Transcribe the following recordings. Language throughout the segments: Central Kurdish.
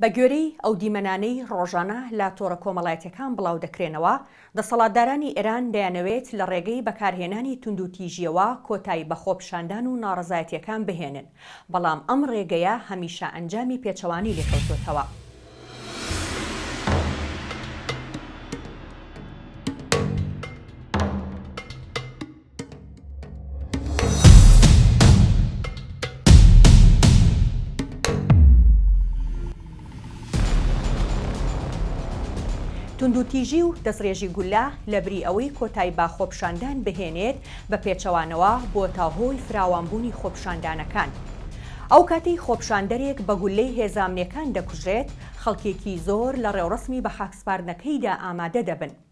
بە گوێرەی ئەو دیمەنانەی ڕۆژانە لە تۆڕە کۆمەڵایەتیەکان بڵاو دەکرێنەوە، دەسەڵاتدارانی ئێران دەیانەوێت لە ڕێگەی بەکارهێنانی توندوتیژیەوە کۆتایی بە خۆپیشاندان و ناڕەزایەتیەکان بهێنن، بەڵام ئەم ڕێگەیە هەمیشە ئەنجامی پێچەوانەی لێکەوتۆتەوە. توندوتیژی و دەستڕێژی گوللە لە بری ئەوەی کۆتای بە خۆپیشاندان بهێنێت بە پێچەوانەوە بۆتە هۆی فراوانبوونی خۆپیشاندانەکان. ئەو کاتەی خۆپیشاندەرێک بە گوللەی هێزە ئەمنیەکان دەکوژرێت، خەڵکێکی زۆر لە ڕێوڕەسمی بەخاکسپاردنەکەیدا ئامادە دەبن.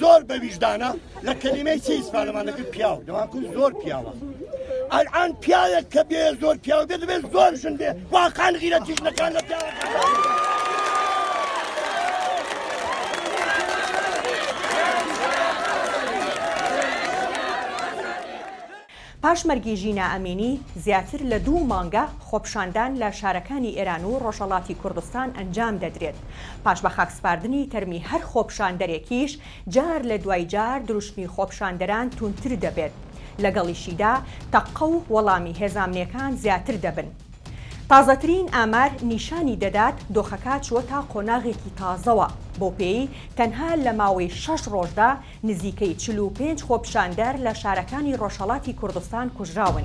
زۆر بە ویژدانە لە کەلیمەی چی ئیسپانەمان دەکرد پیاو دەواکن زۆر پیاوە ئەلان پیاوێک کە بێ زۆر پیاو بێت بێت زۆر ژن بێ واقعان غیرە تیژنەکان لە پیاوە پاش مەرگی ژینا ئەمینی، زیاتر لە دوو مانگە خۆپیشاندان لە شارەکانی ئێران و ڕۆژهەڵاتی کوردستان ئەنجام دەدرێت، پاش بەخاکسپاردنی تەرمی هەر خۆپیشاندەرێکیش، جار لە دوای جار دروشمی خۆپیشاندەران توندتر دەبێت، لەگەڵیشیدا تەقە و وەڵامی هێزامنیەکان زیاتر دەبن. تازەترین ئامار نیشانی دەدات دۆخەکە چووەتە قۆناغێکی تازەوە، بەوپێی تەنها لە ماوەی شەش ڕۆژدا، نزیکەی چل و پێنج خۆپیشاندەر لە شارەکانی ڕۆژهەڵاتی کوردستان کوژراون.